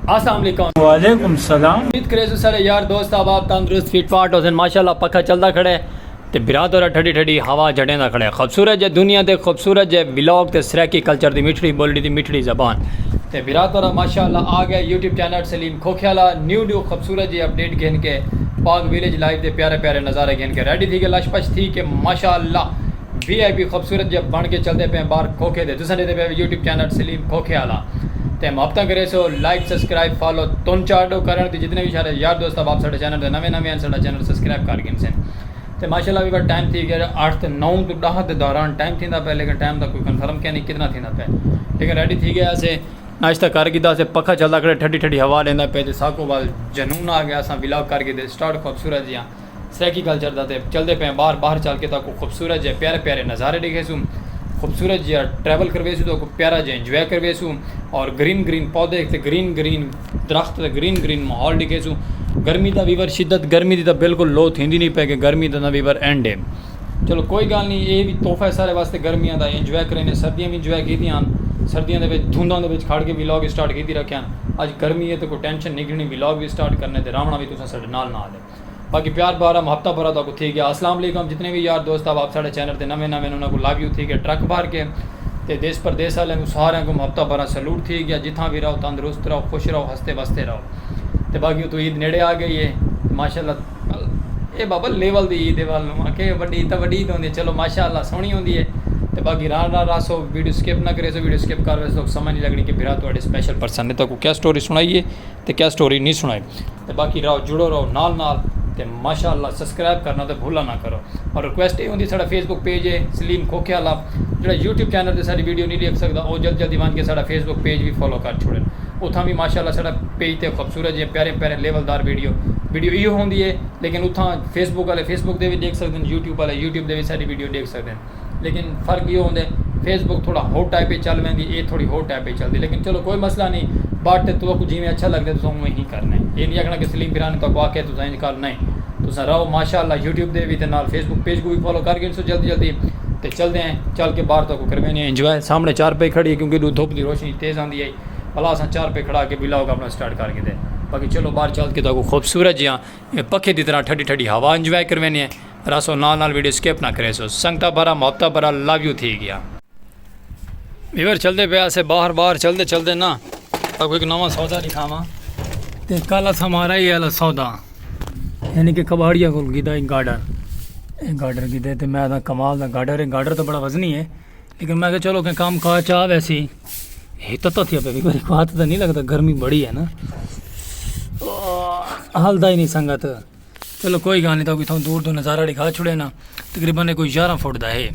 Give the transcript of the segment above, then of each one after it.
السلام علیکم وعلیکم السلام امید کرے سو سارے یار دوست احباب تندرست فٹ فاٹ ہوسن ماشاءاللہ پکھا چلدا کھڑے تے بھرا تورا ٹھڈی ٹھڈی ہوا جڑیں دا کھڑے خوبصورت جے دنیا تے خوبصورت جے ولاگ تے سرائیکی کلچر دی مٹھڑی بولڑی دی مٹھڑی زبان تے بھرا تورا ماشاءاللہ آ گئے YouTube channel Saleem Khokhiala new new خوبصورت جے اپڈیٹ گھن کے پاک ویلیج لائیو دے پیارے پیارے نظارے گھن کے ریڈی تھی کے لش پش تھی کے ماشاءاللہ وی آئی پی خوبصورت جیہا بݨ کے چلدے پئے بار کھوکھے دے تساں ݙیندے پئے وے یوٹیوب چینل سلیم کھوکھے آلا تے محبتاں کریسو لائک سبسکرائب فالو تن چاڈو کرݨ دی جتنے وی شارے یار دوست احباب ساڈے چینل تے نویں نویں ہن ساڈا چینل سبسکرائب کر گھنسن تے ماشاءاللہ وی بس ٹائم تھی گیا اٹھ تے نو توں ݙاہ دے دوران ٹائم تھیندا پئے لیکن ٹائم دا کوئی کنفرم کینی کتنا تھیندا پئے لیکن ریڈی تھی گئے اسے ناشتہ کر گھدا اسے پکھا چلدا کھڑے ٹھڈی ٹھڈی ہوا ݙیندا پئے تے ساکوں بعد جنون آ گیا اساں ولاگ کر گھدے سٹارٹ خوبصورت جیہا سرائیکی کلچر دا تے چلدے پئے باہر باہر چل کے تاکوں خوبصورت جے پیارے پیارے نظارے ڈیکھیسوں خوبصورت جیا ٹریول کرویسوں تاکوں پیارا جے انجوائے کرویسوں اور گرین گرین پودے تے گرین گرین درخت تے گرین گرین ماحول ڈیکھیسوں گرمی دا ویور شدت گرمی دی تاں بالکل لو تھیندی نہیں پے کہ گرمی دا ویور اینڈ ہے چلو کوئی گال نہیں اے وی تحفہ ہے سارے واسطے گرمیاں دا انجوائے کرینے سردیاں وی انجوائے کیتی آن سردیاں دے وچ دھنداں دے وچ کھڑ کے ولاگ اسٹارٹ کیتی رکھے آن اج گرمی ہے تے کوئی ٹینشن نہیں گھنی ولاگ وی اسٹارٹ کرنے تے راونا وی تساں ساڈے نال نال ہے باقی پیار بھر ہم ہفتہ بھرا تاکو تھی گیا اسلام علیکم جتنے وی یار دوست آپ ساڑے چینل تے نویں نویں انہاں کو لویو تھی گیا ٹرک بھر کے تے دیس پردیس والے کو سارے کو ہفتہ بھرا سلوٹ تھی گیا جتھاں وی رہو تندرست رہو خوش رہو ہستے بستے رہو تے باقی اتو عید نیڑے آ گئی ہے ماشاءاللہ اے بابا لیول دی عید ہے والوں کہ وڈی تاں وڈی عید ہوندی چلو ماشاءاللہ سونی ہوندی ہے تے باقی ران ران راسو ویڈیو سکپ نہ کریسو ویڈیو سکپ کر ویسو سمجھ نہیں لگنی کہ بھرا تواڈے سپیشل پرسن نے تاکو کیا سٹوری سنائی ہے تے کیا سٹوری نہیں سنائی تے باقی راہو جڑو راہو نال نال تے ماشاء اللہ سسکرائب کرنا تے بھلا نا کرو اور ریکویسٹ اے ہوندی ساڈا فیس بک پیج اے سلیم کھوکھے آلا جیڑا یوٹیوب چینل تے ساڈی ویڈیو نی ڈیکھ سکدا او جلد جلدی ونج کے ساڈا فیس بک پیج وی فالو کر چھوڑن اتھاں وی ماشاء اللہ ساڈا پیج تے خوبصورت جیاں پیاریاں پیاریاں لیول دار ویڈیو ویڈیو ایہو ہوندی اے لیکن اتھاں فیس بک آلے فیس بک دے وی ڈیکھ سکدن یوٹیوب آلے یوٹیوب دے وی ساڈی ویڈیو ڈیکھ سکدن۔ لیکن فرق ایہو ہوندے فیس بک تھوڑا ہو ٹائپ اچ چل ویندی اے تھوڑی ہو ٹائپ اچ چلدی لیکن چلو کوئی مسئلہ نی بٹ تہاکوں جیویں اچھا لگدے تساں اونویں ہی کرنا اے اے نی آکھنا کہ سلیم پرانی تہاکوں آکھیا تساں اینج کر نئیں تساں رہو ماشاءاللہ یوٹیوب دے وی تے نال فیس بک پیج کوں وی فالو کر گھنسو جلدی جلدی تے چلدے ہیں چل کے باہر تہاکوں کرویندے ہیں انجوائے سامنے چار پئی کھڑی اے کیونکہ ادھروں دھوپ دی روشنی تیز آندی اے بھلا اساں چار پئی کھڑا کے ولاگ اپنا سٹارٹ کر گھیدے باقی چلو باہر چل کے تہاکوں خوبصورت جیہاں پکھے دی طرح ٹھڈی ٹھڈی ہوا انجوائے کرویندے ہیں۔ رہسو نال نال ویڈیو سکپ نہ کریسو سنگتا برا محبتا برا لو یو تھی گیا۔ ویور چلدے پے اسے باہر باہر چلدے چلدے نا تاکو ایک نواں سودا دکھاواں تے کل اسا مارا ہی الا سودا یعنی کہ کباڑیا کول گیدا ایک گارڈر ایک گارڈر گیدے تے میں دا کمال دا گارڈر ہے گارڈر تو بڑا وزنی ہے لیکن میں کہ چلو کہ کام کار چاہ ویسی ہتا تو تھیا پے ویور کو ہاتھ دا نہیں لگدا گرمی بڑی ہے نا حال دا ہی نہیں سنگت چلو کوئی گال نہیں تاکہ تھاں دور دو نظارہ دکھا چھوڑے نا تقریبا نے کوئی یارہ فٹ دا ہے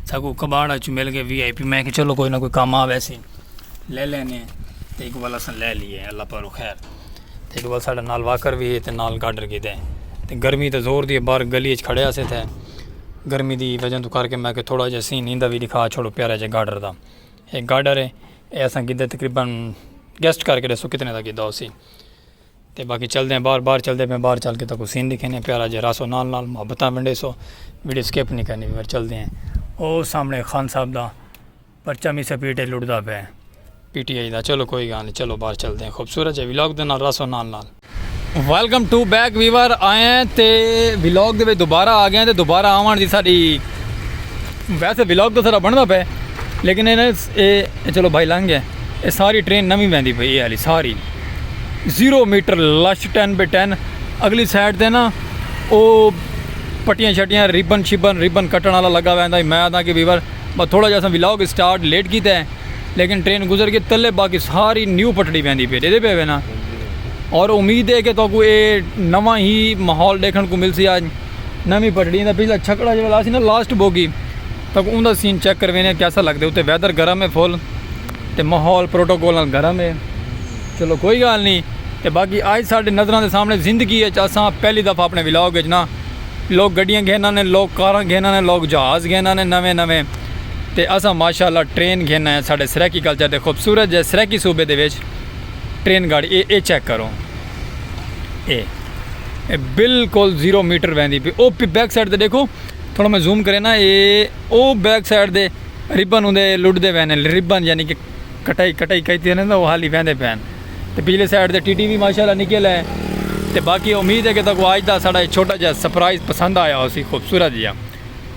ساکو کباڑ اچ مل گئے وی آئی پی میں کہ چلو کوئی نہ کوئی کام آ ویسے لے لینے ہیں تے ایک والا سن لے لیے اللہ پاک رو خیر تے ایک والا ساڈا نال واکر وی ہے تے نال گاڈر کی دے تے گرمی تے زور دی بار گلی اچ کھڑے اسے تھے گرمی دی وجہ تو کر کے میں کہ تھوڑا جا سین ہیندا وی دکھا چھوڑو پیارا جا گاڈر دا ایک گاڈر ہے ایسا گدے تقریبا گیسٹ کر کے دسو کتنے دا گدا ہو سی تے باقی چلدے ہیں باہر باہر چلدے پے باہر چل کے تاکو سین دکھینے ہیں پیارا جے راسو نال نال محبتاں ونڈے سو ویڈیو سکپ نہیں کرنی پر چلدے ہیں او سامنے خان صاحب دا پرچہ می سپیٹے لڑدا پے پی ٹی آئی دا چلو کوئی گال نہیں چلو باہر چلدے ہیں خوبصورت جے ویلاگ دے نال راسو نال نال ویلکم ٹو بیک ویور آئے ہیں تے ویلاگ دے وچ دوبارہ آ گئے ہیں تے دوبارہ آون دی ساڈی ویسے ویلاگ تو سارا بندا پے لیکن اے چلو بھائی لنگ گئے اے ساری ٹرین نوی ویندی پئی اے والی ساری zero meter lush ten by ten اگلی سائڈ تے نا او پٹیاں شٹیاں ریبن شیبن ریبن کٹن والا لگا ویندا ہے میں آدھا کہ ویور بس تھوڑا جا سا ولاگ سٹارٹ لیٹ کیتا ہے لیکن ٹرین گزر کے تلے باقی ساری نیو پٹڑی ویندی پئی دے پے وینا اور امید ہے کہ تو کو اے نواں ہی ماحول دیکھن کو ملسی آج نوی پٹڑی دا پچھلا چھکڑا جو لاسی نا لاسٹ بوگی تک اوں دا سین چیک کروینے آں کیسا لگدے اتے ویدر گرم ہے فل تے ماحول پروٹوکول نال گرم ہے چلو کوئی گال نی تے باقی آج ساڈے نظراں دے سامنے زندگی اچ اساں پہلی دفعہ اپنے ولاگ اچ نا لوگ گڈیاں گھن آنے لوگ کاراں گھن آنے لوگ جہاز گھن آنے نویں نویں تے اساں ماشاءاللہ ٹرین گھن آئے آں ساڈے سرائیکی کلچر دے خوبصورت جے سرائیکی صوبے دے وچ ٹرین گاڑی اے اے چیک کرو اے اے بلکل زیرو میٹر ویندی P O P back side تے ڈیکھو۔ تھوڑا میں زوم کرے نا اے او بیک سائیڈ دے ریبن ہوندے لڈ دے وینے ریبن یعنی کہ کٹائی کٹائی کہی تھی نا وہ حالی ویندے پین تے پیلے سائیڈ دے ٹی ٹی بھی ماشاءاللہ نکل ہے تے باقی امید ہے کہ تکو آج دا ساڑا چھوٹا جا سپرائز پسند آیا ہو سی خوبصورت جیا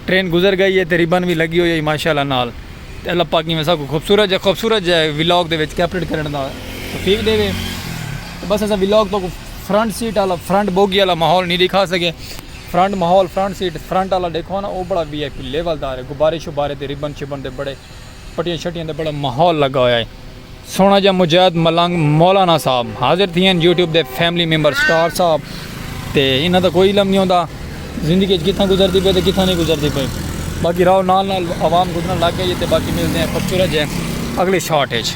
ٹرین گزر گئی ہے تے ریبن بھی لگی ہوئی ہے ماشاءاللہ نال تے اللہ پاک میں سب کو خوبصورت جا خوبصورت جا ویلاگ دے وچ کیپریٹ کرنے دا توفیق دے وے بس ایسا ویلاگ تو فرنٹ سیٹ آلا فرنٹ بوگی آلا ماحول نہیں دکھا سکے فرنٹ ماحول فرنٹ سیٹ فرنٹ آلا ڈیکھو نا او بڑا وی آئی پی لیول دا ہے غبارے شبارے تے ربن شبن دے بڑے پٹیاں شٹیاں دے بڑا ماحول لگا ہویا ہے سونا جا مجاہد ملنگ مولانا صاحب حاضر تھی ہیں یوٹیوب دے فیملی ممبر سٹار صاحب تے انہاں دا کوئی علم نہیں ہوندا زندگی اچ کتھاں گزر دی پے تے کتھاں نہیں گزر دی پے باقی راو نال نال عوام گزرن لگ گئی تے باقی ملتے ہیں خوبصورت جے اگلے شاٹ اچ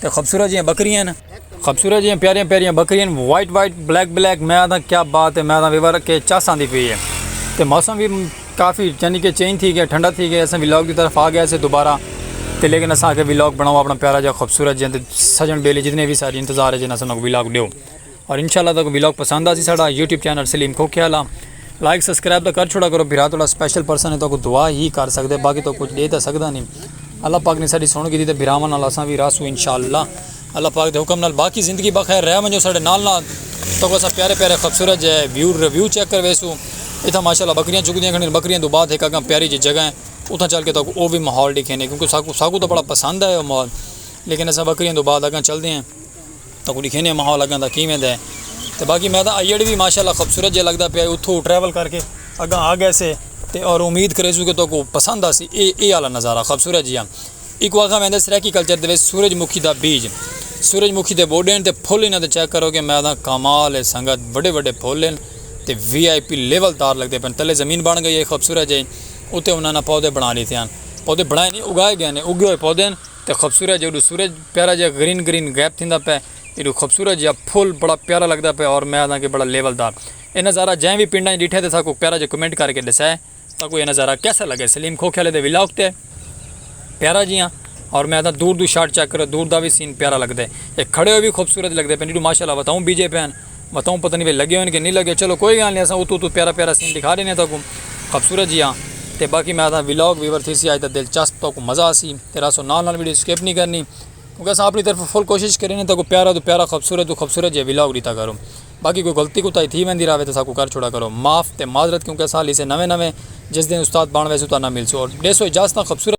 تے خوبصورت جیاں بکریاں ہن خوبصورت جیاں پیاریاں پیاریاں بکریاں ہن وائٹ وائٹ بلیک بلیک میں آدھا کیا بات ہے میں آدھا ویور کے چس آندی پی ہے تے موسم بھی کافی یعنی کہ چینج تھی گیا ٹھنڈا تھی گیا اساں وی لاگ دی طرف آ گیا سے دوبارہ تے لیکن اساں آگے وی لاگ بناؤ اپنا پیارا جا خوبصورت جیاں تے سجن بیلی جتنے بھی ساری انتظار ہے جنہاں سنوں وی لاگ دیو اور انشاءاللہ تاکہ ویلاگ پسند آسی ساڑا YouTube channel Saleem Khokhiala like subscribe دا کر چھوڑا کرو بھرا توڑا سپیشل پرسن ہے تو کو دعا ہی کر سکتے باقی تو کچھ دے تا سکتا نہیں اللہ پاک نے ساڑی سن کی دی تے بھراواں نال اساں بھی راسو انشاءاللہ اللہ پاک دے حکم نال باقی زندگی بخیر رہ ونجو ساڑے نال نال تو کو اساں پیارے پیارے خوبصورت جے ویو ریویو چیک کر ویسو اتھا ماشاءاللہ بکریاں چک دیاں کھنی بکریاں دو بعد ایک اگاں پیاری جے جگہ ہیں اتھا چل کے تو کو او بھی ماحول ڈکھینے کیونکہ ساکو ساکو تو بڑا پسند ہے او ماحول لیکن اساں بکریاں دو بعد اگاں چل دے ہیں تکوں ڈکھینے ماحول اگاں دا کیویں دے تے باقی میں تاں آئیڈ وی ماشاءاللہ خوبصورت جے لگدا پیا اتھو ٹریول کر کے اگاں آ گئے سے تے اور امید کرے سوں کہ تو کو پسند آسی اے اے والا نظارہ خوبصورت جیاں ایک واقعہ میں دس ریکی کلچر دے سورج مکھی دا بیج سورج مکھی دے بوڈین تے پھول انہاں دے چیک کرو گے میں تاں کمال ہے سنگت وڈے وڈے پھول ہیں تے وی آئی پی لیول دار لگدے پن تلے زمین بن گئی ہے خوبصورت جے اتے انہاں نے پودے بنا لیتے ہیں پودے بنائے نہیں اگائے گئے ہیں اگے ہوئے پودے ہیں تے خوبصورت جیہڑو سورج پیارا جیہا گرین گرین غائب تھیندا پئے ایڈو خوبصورت جیہا پھول بڑا پیارا لگدا پئے اور میں آکھداں کہ بڑا لیول دار اے نظارہ جئیں وی پنڈاں اچ ڈٹھے تے ساکوں پیارا جیہا کمنٹ کر کے ڈسے ساکوں اے نظارہ کیسا لگے سلیم کھوکھے آلے دے ولاگ تے پیارا جیہاں اور میں آکھداں دور دو شاٹ چیک کرو دور دا وی سین پیارا لگدے اے کھڑے ہوئے وی خوبصورت لگدے پئے ایڈو ماشاءاللہ وتاؤں بیجے پئے ہن۔ بتاؤں پتہ نہیں بھئی لگے ہوئے کہ نہیں لگے چلو کوئی گال نہیں اساں اتو اتو پیارا پیارا سین دکھا دینے تاکوں خبصورت جیہا تے باقی میں آدھا ولاگ ویور تھی سی آج دا دلچسپ تاکوں مزہ آسی تے راسو نال نال ویڈیو سکیپ نہیں کرنی کیونکہ اساں اپنی طرف فل کوشش کرینے تاکوں پیارا تو پیارا خبصورت تو خبصورت جیہا ولاگ ڈیتا کروں باقی کوئی غلطی کوتاہی تھی ویندی راوے تے ساکو کر چھوڑا کرو معاف تے معذرت کیونکہ اساں ہلی سے نویں نویں جس دن استاد بن ویسوں تہاڈے نال ملسوں اور ڈیسو اجازتاں خبصورت